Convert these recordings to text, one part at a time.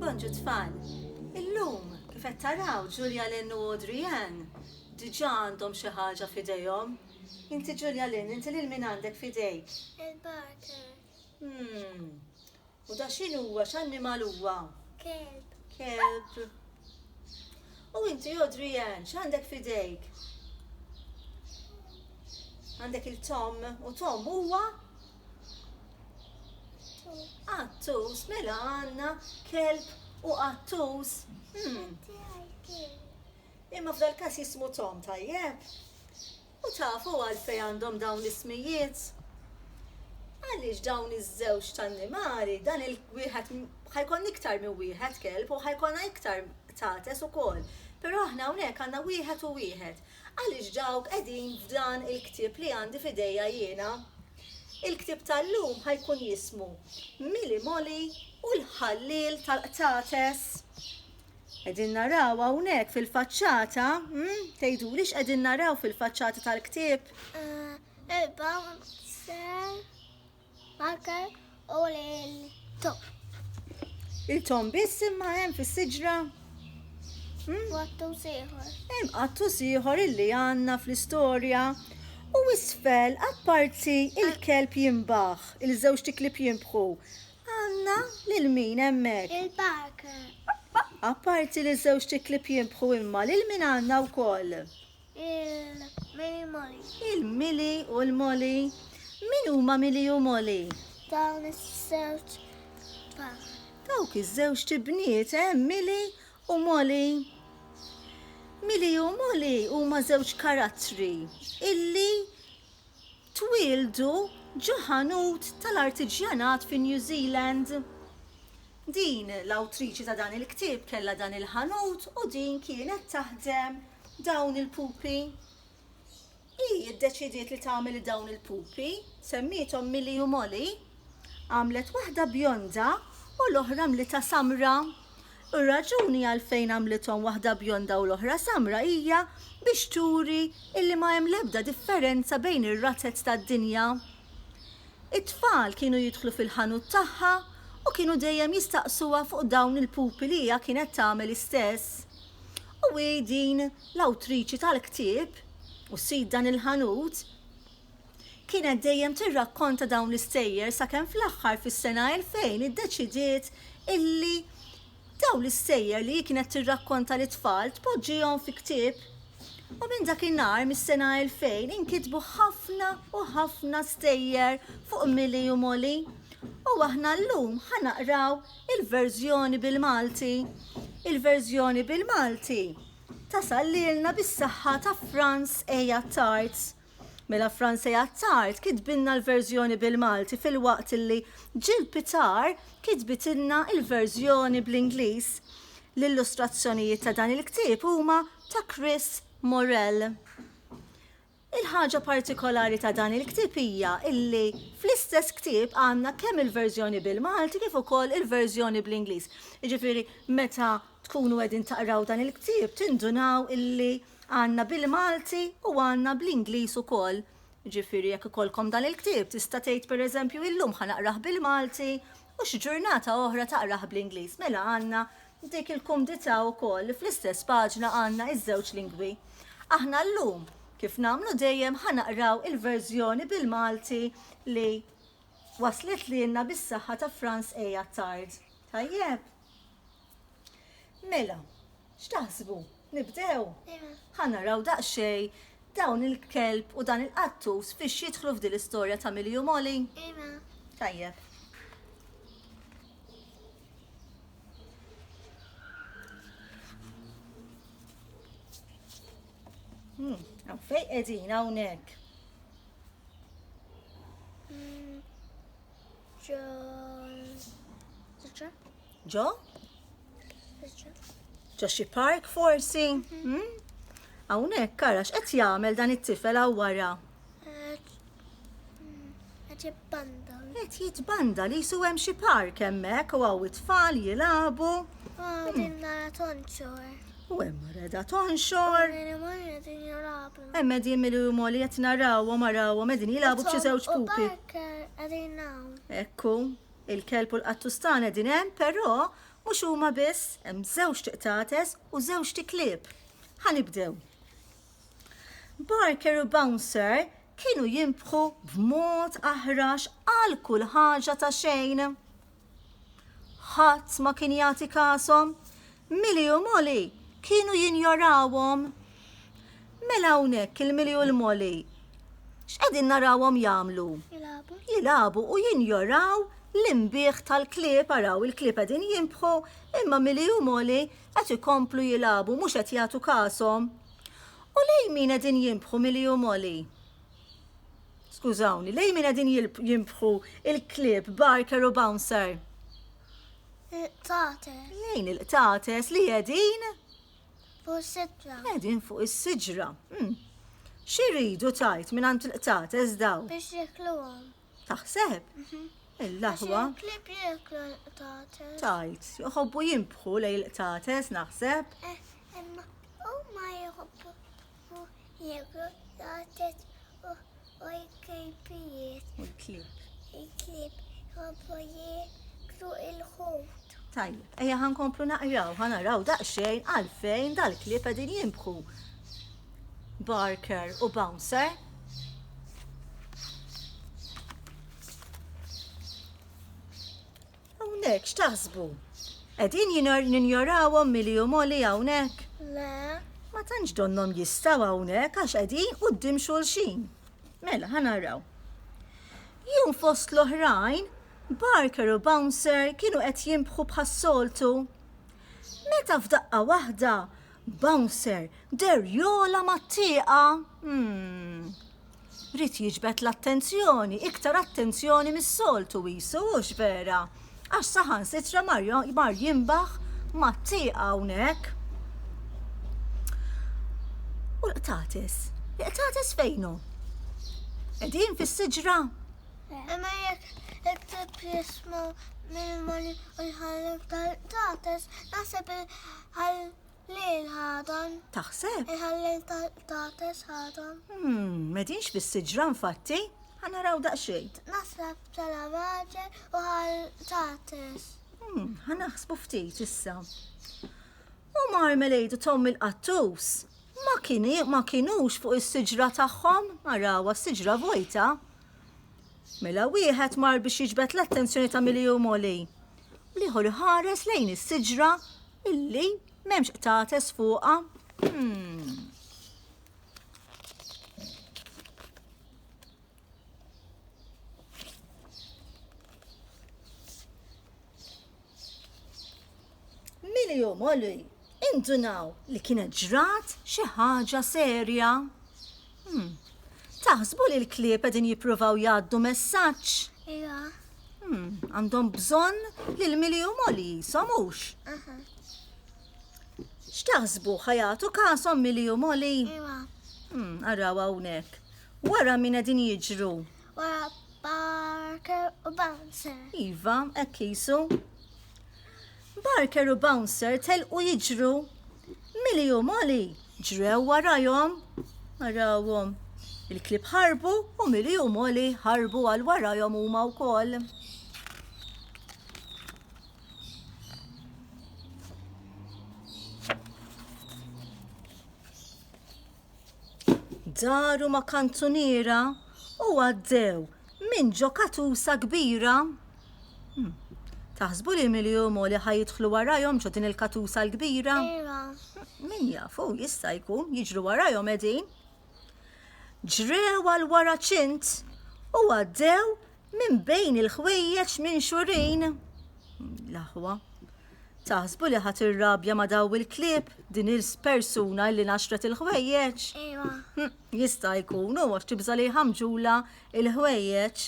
Bonġu tfal, illum kif qed taraw Julia Lynn u Audrey Ann diġà għandhom xi ħaġa f'idejhom. Inti Julia Lynn, inti lil min għandek f'idejk? Il-barker. Hmm. U da x'in huwa, x'annimal huwa? Kelb. Kelb. U inti Audrey Ann, x'għandek f'idejk? Għandek il-Tom u Tom huwa? Attus, mela għanna kelb u attus. Hmm. Imma f'dal kas jismu Tom tajjeb. U tafu għalfej għandhom dawn l-ismijiet. Għaliex dawn iż-żewġ tan-nimari dan il-wieħed ħajkon iktar minn wieħed kelb u ħajkonna iktar tates ukoll. Però aħna hawnhekk għandna wieħed u wieħed. Għaliex dawk qegħdin f'dan il-ktieb li għandi f'idejja jiena. Il-ktieb tal-lum ħa jkun jismu Mili Moli u l-Ħalliel tal-Qtates. Qegħdin naraw hawnhekk fil-faċċata, hm, tgħiduli x'qegħdin naraw fil-faċċata tal-ktieb? Erbgħa u ħamsin. Anker u l-tom. Il-tom biss imma hemm fis-siġra? Hmm? Għattu siħor. Hemm għattu siħor illi għandna fl-istorja. U isfel, apparti il-kelb jimbaħ, il-żewġ tiklib jimbħu, għandna lil min hemmhekk? Il-barker. Apparti li żewġ tiklib jimbħu imma lil min għandna wkoll? Il-Mili Moli. Il-Mili u l-Moli. Min huma Mili u Moli? Dawn iż-żewġ tfal. Dawk iż-żewġ tibniet, eh, Mili u Moli. Mili u Moli huma żewġ karattri illi Twieldu ġo ħanut tal-artiġjanat fi New Zealand. Din l-awtriċi ta' dan il-ktieb kellha dan il-ħanut u din kienet taħdem dawn il-pupi. Hi ddeċidiet li tagħmel dawn il-pupi, semmiethom Millie u Molly. Għamlet waħda bjonda u l-oħra mlitha samra. U r-raġuni għalfejn għamlithom waħda bjonda u l-oħra samra hija biex turi illi ma hemm l-ebda differenza bejn ir-razez tad-dinja. It-tfal kienu jidħlu fil-ħanut tagħha u kienu dejjem jistaqsuha fuq dawn il-pupi li hija kienet tagħmel istess. U hi din l-awtriċi tal-ktieb u sid dan il-ħanut. Kienet dejjem tirrakkonta dawn l-istejjer sakemm fl-aħħar fis-sena 2000 iddeċidiet illi dawn l-istejjer li hi kienet tirrakkonta lit-tfal tpoġġihom fi ktieb. U minn dak in-nhar mis-sena 2000 inkitbu ħafna u ħafna stejjer fuq Millie u Molly. U aħna llum ħa naqraw il-verżjoni bil-Malti. Il-verżjoni bil-Malti tasal lilna bis-saħħa ta' Franz A. Attard. Mela Franzi Attard kitbilna l-verżjoni bil-Malti filwaqt li Jill Pitar kitbitilna l-verżjoni bl-Ingliż. L-illustrazzjonijiet ta' dan il-ktieb huma ta' Chris Morrell. Il-ħaġa partikolari ta' dan il-ktieb hija illi fl-istess ktieb għandna kemm il-verżjoni bil-Malti kif ukoll il-verżjoni bl-Ingliż. Jiġifieri meta tkunu qegħdin taqraw dan il-ktieb tindunaw illi għandna bil-Malti u għandna bl-Ingliż ukoll. Jiġifieri jekk ikollkom dan il-ktieb tista' tgħid pereżempju illum ħa naqrah bil-Malti u xi ġurnata oħra taqrah bl-Ingliż. Mela għandna dik il-kumdità wkoll li fl-istess paġna għandna ż-żewġ lingwi. Aħna llum kif nagħmlu dejjem ħa naqraw il-verżjoni bil-Malti li waslet lilna bis-saħħa ta' Franz A. Attard. Tajjeb? Mela, x'taħsbu? Nibdew? Iva. Ħa naraw daqsxejn dawn il-kelb u dan il-qattus fiex jidħlu f'din l-istorja ta' Millie u Molly? Iva. Tajjeb. Hmm, fej edin hawnhekk. Hmm, Ġo? Ġo xi park forsi? Hmm? Hawnhekk karax qed jagħmel dan it-tifel hawn wara. Qed jitbanda li jisu hemm xi park hemmhekk u hawn it-tfal jilagħbu. Ah, hmm. U hemm reda tonxor. Hemm qegħdin mill-huma li qed narawhom arawhom qegħdin jilagħbu b'xi żewġ pupi. Ekku, Il-kelb u l-qattustan qegħdin hemm, però mhux huma biss, hemm żewġt qtates u żewġt iklieb. Ħa nibdew. Barker u Bouncer kienu jimbħu b'mod aħrax għal kull ħaġa ta' xejn. Ħadd ma kien jagħti kasom, Milju u Molly kienu jinjorawhom. Mela hawnhekk il-Milju u l-Molly x'qegħdin narawhom jagħmlu? Jilagħbu. Jilagħbu u jinjoraw l-inbigħ tal-klieb araw il-klieb qegħdin jinbħu imma Milju u Molly qed ikomplu jilagħbu mhux qed jagħtu kashom. U lejn min qegħdin jinbħu Milju u Molly? Skużawni, lejn min qegħdin jinbħu il-klieb Barker u Bouncer? Il-qtates. Lejn il-qtates li jedin? Fuq is-sidra. Jedin fuq is-sidra. Hmm. Xiridu tajt minn għand il-qtates daw? Biex jikluhom. Taħseb? Mhm. Il-laħwa. Klib jiklu l-qtates. Tajt, joħobbu jimbħu lej il-qtates naħseb. Eh, imma u ma jħobbu. u l-Egrotted u l-Klipijiet. U l-Klip. Il-Klip jħobbu jieklu l-ħut. Tajjeb, ejja ħa nkomplu naqraw, ħa naraw daqsxejn għalfejn dal-klieb qegħdin jimbħu Barker u Bouncer. Hawnhekk x'taħsbu? Qegħdin ninjorawhom milli umoli hawnhekk? Le. Ma tantx donnhom jistgħu hawnhekk għax qegħdin quddiem xulxin. Mela, ħa naraw. Jum fost l-oħrajn, Barker u Bouncer kienu qed jimbħu bħas-soltu. Meta f'daqqa waħda, Bouncer deher jogħla mat-tieqa! Umm. Ried jiġbed l-attenzjoni, iktar attenzjoni mis-soltu qisu, hux vera? Għax saħansitra mar jinbaħ mat-tieqa hawnhekk. U l-qtates? Il-qtates fejn hu? Qegħdin fis-siġra? Imma jekk it-tipp jisma' l-animali u jħallef tal-qtates, naħseb Qal li l-ħadan. Taħseb? Iħalli l-tates ħadan. Hmm, medinx bis-siġra nfatti, ħanaraw daqsxejn. Nasra btala maġer u ħal tates. Hmm, ħanaħsbu ftit issa. U marmelade u tom il-qattus ma kieni ma kienux fuq is-siġra tagħhom, arawa s-siġra vojta. Mela wieħed mar biex jiġbed l-attenzjoni ta' Milju Moli. L-ieħor iħares lejn is-siġra illi m'hemmx qtates fuqha. Hmm. Min jomoli Indunaw li kienet ġrat xi ħaġa serja? Hmm. Taħsbu li l-klieb qegħdin jippruvaw jgħaddu messaġġ? Iva. Hmm. Għandhom bżonn li l-mili u moli jisom hux? Aha. X'taħsbu ħajatu kasom mili u moli? Iva. Hmm. Araw hawnhekk. Wara min qegħdin jiġru? Wara Barker u Bouncer. Iva, hekk jisu. Barker u Bouncer telqu jiġru. Millie u Molly ġrew warajhom. Arawhom. Il-klieb ħarbu u Millie u Molly ħarbu għal warajhom huma wkoll. daru ma' kanzuniera u għaddew minn ġo katusa kbira. Hmm. Taħsbu li Miljum u li ħajidħlu warajhom ġo din il-katusa l-kbira? Iva. Min jafu, jista' jkun, jiġru warajhom edin. Ġrew għal wara ċint u għaddew minn bejn il-ħwejjeġ minn xurin. L-aħwa. Taħsbu li ħa tirrabja ma' daw il-klieb, din il-persuna illi naxxret il-ħwejjeġ? Ejwa. Hm, jista' jkun u għax tibża' li jħammġula il-ħwejjeġ.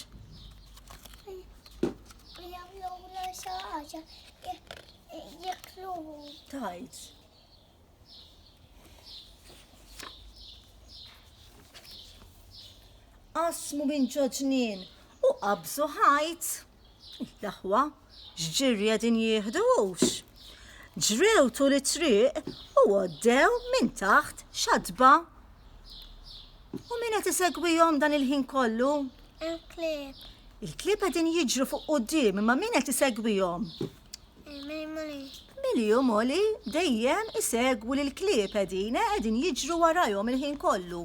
Tajt. Asmu minn ġoġnin u qabżu ħajt. L-aħwa x'ġirji qegħdin jieħdu hux? Ġrew tul it-triq u għoddew minn taħt xatba. U min qed isegwihom dan il-ħin kollu? Il-klieb. Il-klieb qegħdin jiġru fuq quddiem imma min qed isegwihom? Mili u Moli dejjem isegwu l-klieb qegħdin eh, qegħdin jiġru warajhom il-ħin kollu.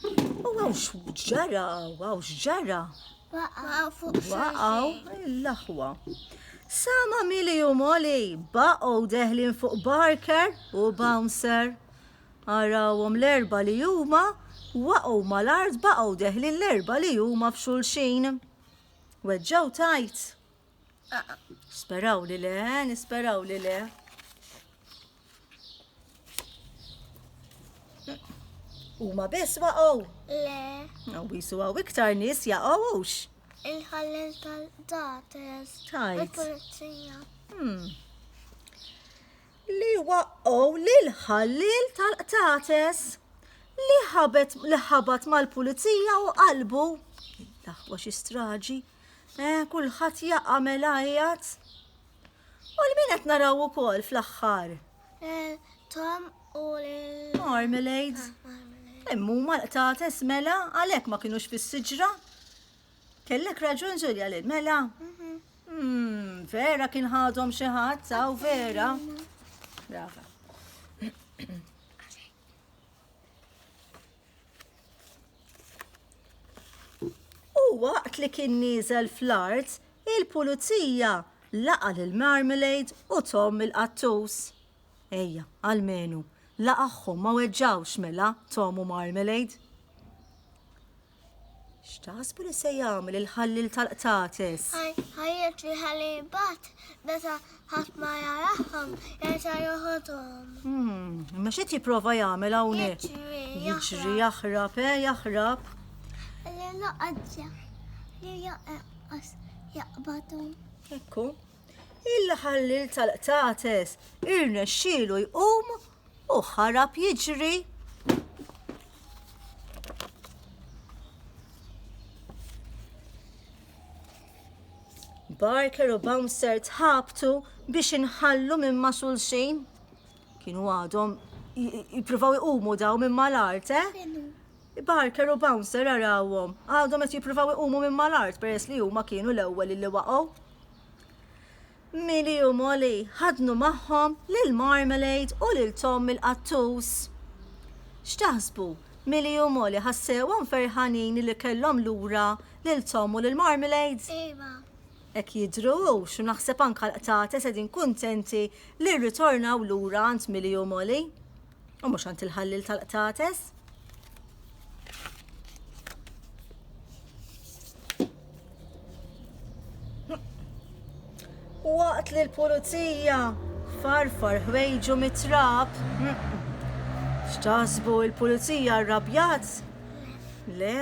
U għaw xġara, għaw xġara. Waqaw fuq Waqaw l-aħwa. Sama mili u moli baqgħu deħlin fuq Barker u Bouncer. Arawhom l-erba li huma waqgħu mal-art baqgħu deħlin l-erba li huma f'xulxin. Weġġaw tajt. Speraw li le, nisperaw li le. U ma biss waqgħu? Le. U bisu għaw iktar nis jaqgħux. Il-ħallel tal-dates. Tajt. Il-polizija. Hmm. Li waqgħu lil ħallel tal-qtates li ħabet li ħabat mal-pulizija u qalbu. Daħwa xi straġi. Eh, kulħadd jaqa' mela qiegħed. U l-min qed naraw ukoll fl-aħħar? Eh, Tom u l- Marmalade. Ah, Immu ma l-qtates mela għalhekk ma kinux fis-siġra. Kellek raġun Ġulja lil mela. Mhm. Hmm, vera kien ħadhom xi ħadd, aw vera. Brava. U waqt li kien nieżel fl-art, il-pulizija laqa' lil Marmalade u Tom il-qattus. Ejja, almenu, laqagħhom ma weġġgħux mela, Tom u Marmalade. X'taħsbu li se jagħmel il-ħalliel tal-qtates? Ħajjet li ħalli jibgħat meta Ħadd ma jarahom, jerġa' joħodhom. Hmm, imma x'qed jipprova jagħmel hawnhekk? Jiġri jaħrab, eh, jaħrab. Li loqgħodja, li joqgħos jaqbadhom. Ekku. Il-ħallil tal-qtates irnexxielu jqum u ħarab jiġri. Barker u Bouncer tħabtu biex inħallu minn ma' xulxin. Kienu għadhom jippruvaw iqumu daw minn mal-art, eh? Barker u Bouncer arawhom, għadhom qed jippruvaw iqumu minn mal-art peress li huma kienu l-ewwel li waqgħu. Millie u Molly ħaddnu magħhom lil Marmalade u lil Tom il-qattus. X'taħsbu, Millie u Molly ħa sewhom ferħanin li kellhom lura lil Tom u lil Marmalade? Iva. Hekk jidhru hux u naħseb anke l-qtates qegħdin kuntenti li rritornaw lura għand Millie u Molly. u mhux għand il-ħallil tal-qtates. Waqt li l-pulizija farfar ħwejġu mit-trab. X'taħsbu l-pulizija rrabjat? Le,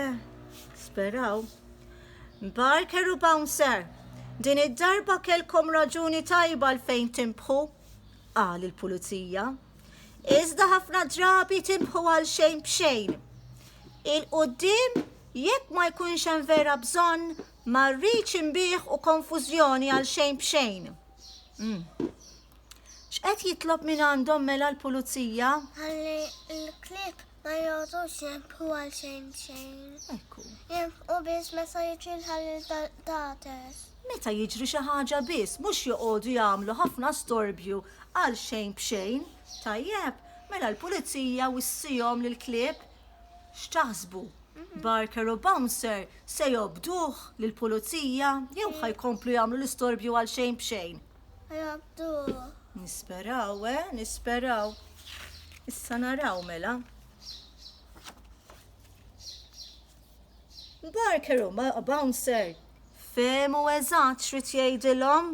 speraw. Barker u Bouncer, din id-darba kelkom raġuni tajba l-fejn timbħu, qal il-pulizija. iżda ħafna drabi timbħu għal xejn b'xejn. Il-qudiem, jekk ma jkunx hemm vera bżonn, ma rridx imbieħ u konfużjoni għal xejn b'xejn. Mm. X'qed jitlob minn għandhom mela l-pulizija? Għalli l-klib Ma jgħotux jinfqu għal xejn xejn. Ekku. Jinfqu biss meta jiġri l-ħalil tal-qtates. Meta jiġri xi ħaġa biss, mhux joqogħdu jagħmlu ħafna storbju għal xejn b'xejn. Tajjeb, mela l-pulizija wissihom lill-klieb? X'taħsbu? Barker u Bouncer se jobduh lill-pulizija jew ħa jkomplu jagħmlu l-istorbju għal xejn b'xejn? Nisperaw, eh, nisperaw. Issa naraw mela. Barker u bouncer. Femu eżat xrit jgħidilhom.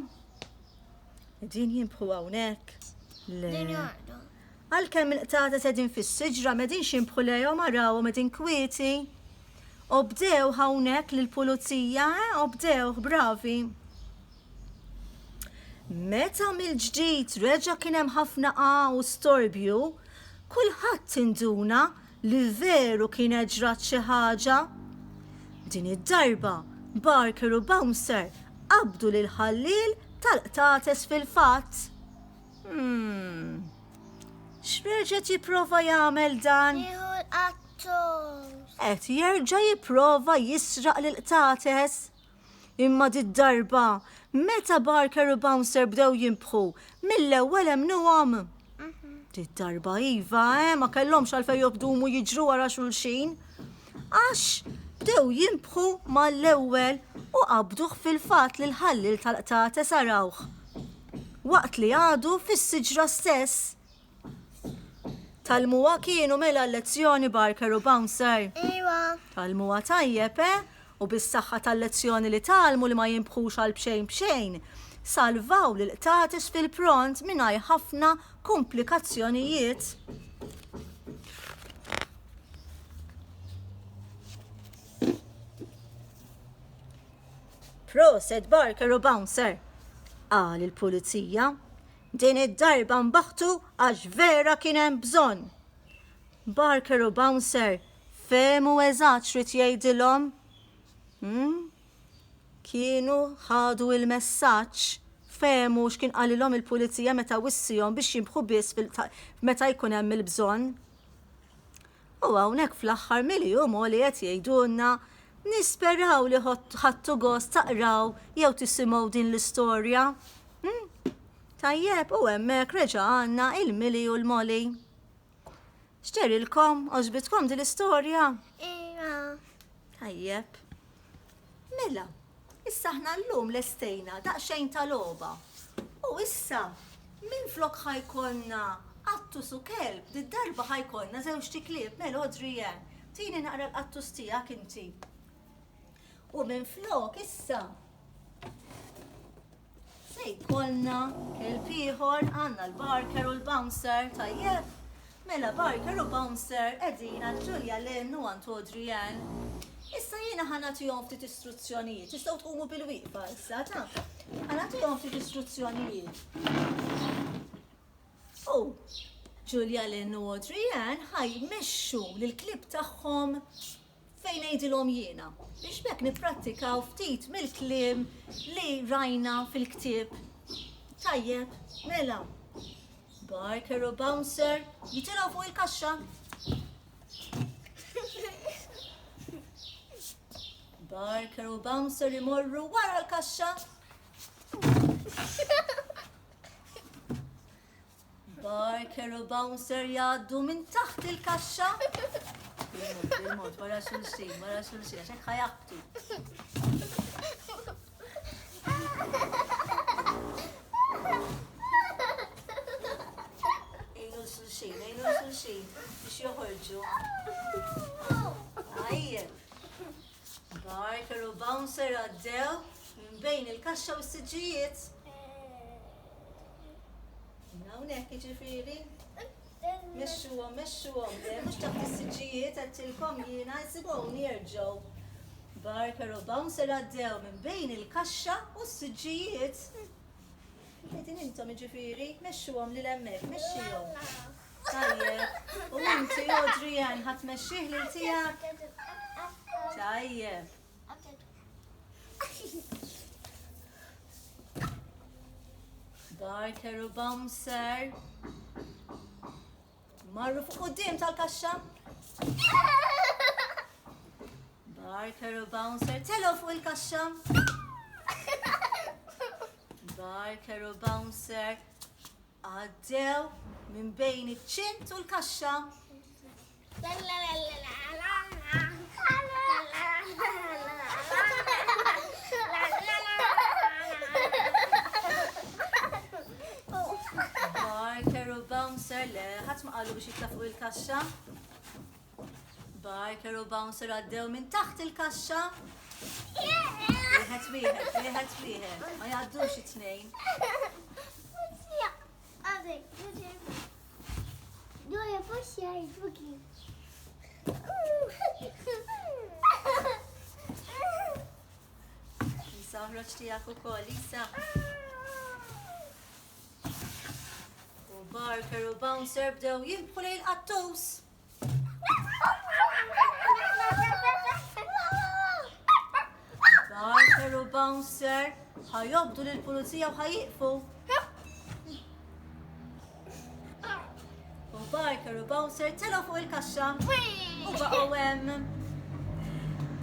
Din jimbħu hawnhekk. Le. Għalkemm il-qtates qegħdin fis-siġra m'qegħdinx jinbħu lejhom arawhom qegħdin kwieti. Obdewh hawnhekk lill-pulizija, eh, obdewh, bravi. Meta mill-ġdid reġa' kien hemm ħafna qagħa u storbju, kulħadd induna li veru kienet ġrat xi ħaġa. Din id-darba, Barker u Bouncer qabdu lill-ħalliel tal-qtates fil-fatt. Hmm. X'reġa' jipprova jagħmel dan? Nieħu l-qattos. Qed jerġa' jipprova jisraq lil qtates. Imma di darba meta Barker u Bouncer bdew jimbħu, mill-ewwel emnuhom. Mhm. Di darba iva, eh, ma kellhomx għalfejn jobdumu jiġru wara xulxin. Għax bdew jinbħu mal-ewwel u qabduh fil-fatt li l-ħalliel tal-qtates arawh waqt li għadu fis-siġra stess. Tgħallmuha kienu mela l-lezzjoni Barker u Bouncer? Iwa. Tgħallmuha tajjeb, eh? U bis-saħħa tal-lezzjoni li tgħallmu li ma jinbħux għal b'xejn b'xejn, salvaw lill-qtates fil-pront mingħajr ħafna kumplikazzjonijiet. Proset Barker u Bouncer. Qal il-pulizija. Din id-darba mbaħtu għax vera kien hemm bżonn. Barker u Bouncer fehmu eżatt xrid jgħidilhom. Hmm? Kienu ħadu il-messaġġ fehmu x'kien qalilhom il-pulizija meta wissihom biex jimbħu biss meta jkun hemm il-bżonn. U hawnhekk fl-aħħar mill-jum hu li qed jgħidulna Nisperaw li ħadtu gost taqraw jew tisimgħu din l-istorja. Hmm? Tajjeb, u hemmhekk reġa' għandna il-Mili u l-Moli. X'ġerilkom? Għoġbitkom din l-istorja? Iva. Tajjeb. Mela, issa aħna llum lestejna daqsxejn ta' logħba. U issa, minflok ħa jkollna qattus u kelb, did-darba ħa jkollna żewġt iklieb. Mela, Audrey-Ann, tini naqra l-qattus tiegħek inti. U minflok issa. Se jkollna kelb ieħor għandna l-Barker u l-Bouncer tajjeb. Mela Barker u Bouncer qegħdin għal Julia Lynn u għand Audrey Ann. Issa jiena ħanatihom ftit istruzzjonijiet, tistgħu tqumu bil-wieqfa issa ta' ħanatihom ftit istruzzjonijiet. U Julia Lynn u Audrey Ann ħaj mexxu lill-klib tagħhom Fejn ngħidilhom jiena, biex b'hekk nipprattikaw ftit mill-kliem li rajna fil-ktieb? Tajjeb, mela. Barker u Bouncer jitilgħu fuq il-kaxxa. Barker u Bouncer imorru wara l-kaxxa. Barker u Bouncer jgħaddu minn taħt il-kaxxa. Il-mod, wara xulxin, wara xulxin, għax hekk ħajaqtu. Ejnu xulxin, ejnu xulxin, biex joħorġu. Għajjem. Barker u Bouncer għaddew minn bejn il-kaxxa u s-siġijiet. Hawnhekk jiġifieri. Mexxuhom, mexxuhom, mhux ta' fis-siġġijiet għedtilkom jiena jsibhom jerġgħu. Barker u Bouncer għaddew minn bejn il-kaxxa u s-siġġijiet. Qegħdin intom jiġifieri, mexxuhom lil hemmhekk, mexxihom. Tajjeb, u inti Audrey Ann ħadd mexxih lil tiegħek? Tajjeb. Barker u bouncer. Marru fuq qudiem tal-kaxxa. Barker u bouncer telo fuq il-kaxxa. Barker u bouncer. Għaddew minn bejn iċ-ċint u l-kaxxa. Barker u Bouncer le, ħadd ma qalu biex jitla' fuq il-kaxxa. Barker u Bouncer għaddew minn taħt il-kaxxa. Wieħed wieħed, wieħed wieħed, ma jgħaddux it-tnejn. Dora fux jgħidbuki. Lisa, uħroċ tijak u kol, Lisa. U Barker u Bouncer bdew jimbħu lejn qattus. Barker u bouncer ħajobdu lill pulizija u ħajiqfu. U Barker u bouncer telgħu fuq il-kaxxa u baqgħu hemm.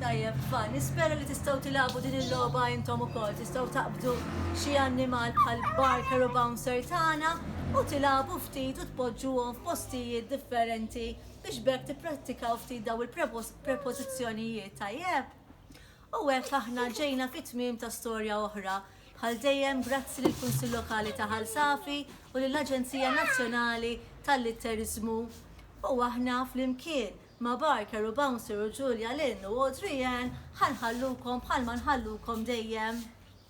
Tajjeb, fa, nispera li tistaw tilabu din il-loba intom u kol, tistaw taqbdu xie annimal bħal barker u bouncer tana u tilabu ftit Poġġuhom f'postijiet differenti biex b'hekk tipprattikaw ftit dawn il-prepożizzjonijiet, tajjeb? U hekk aħna ġejna fit-tmiem ta' storja oħra. Bħal dejjem grazzi lill-Kunsill Lokali ta' Ħal Safi u lill-Aġenzija Nazzjonali tal-Litteriżmu. U aħna flimkien ma' Barker u Bouncer u Julia Lynn u Audrey Ann ħa nħallukom bħalma nħallukom dejjem.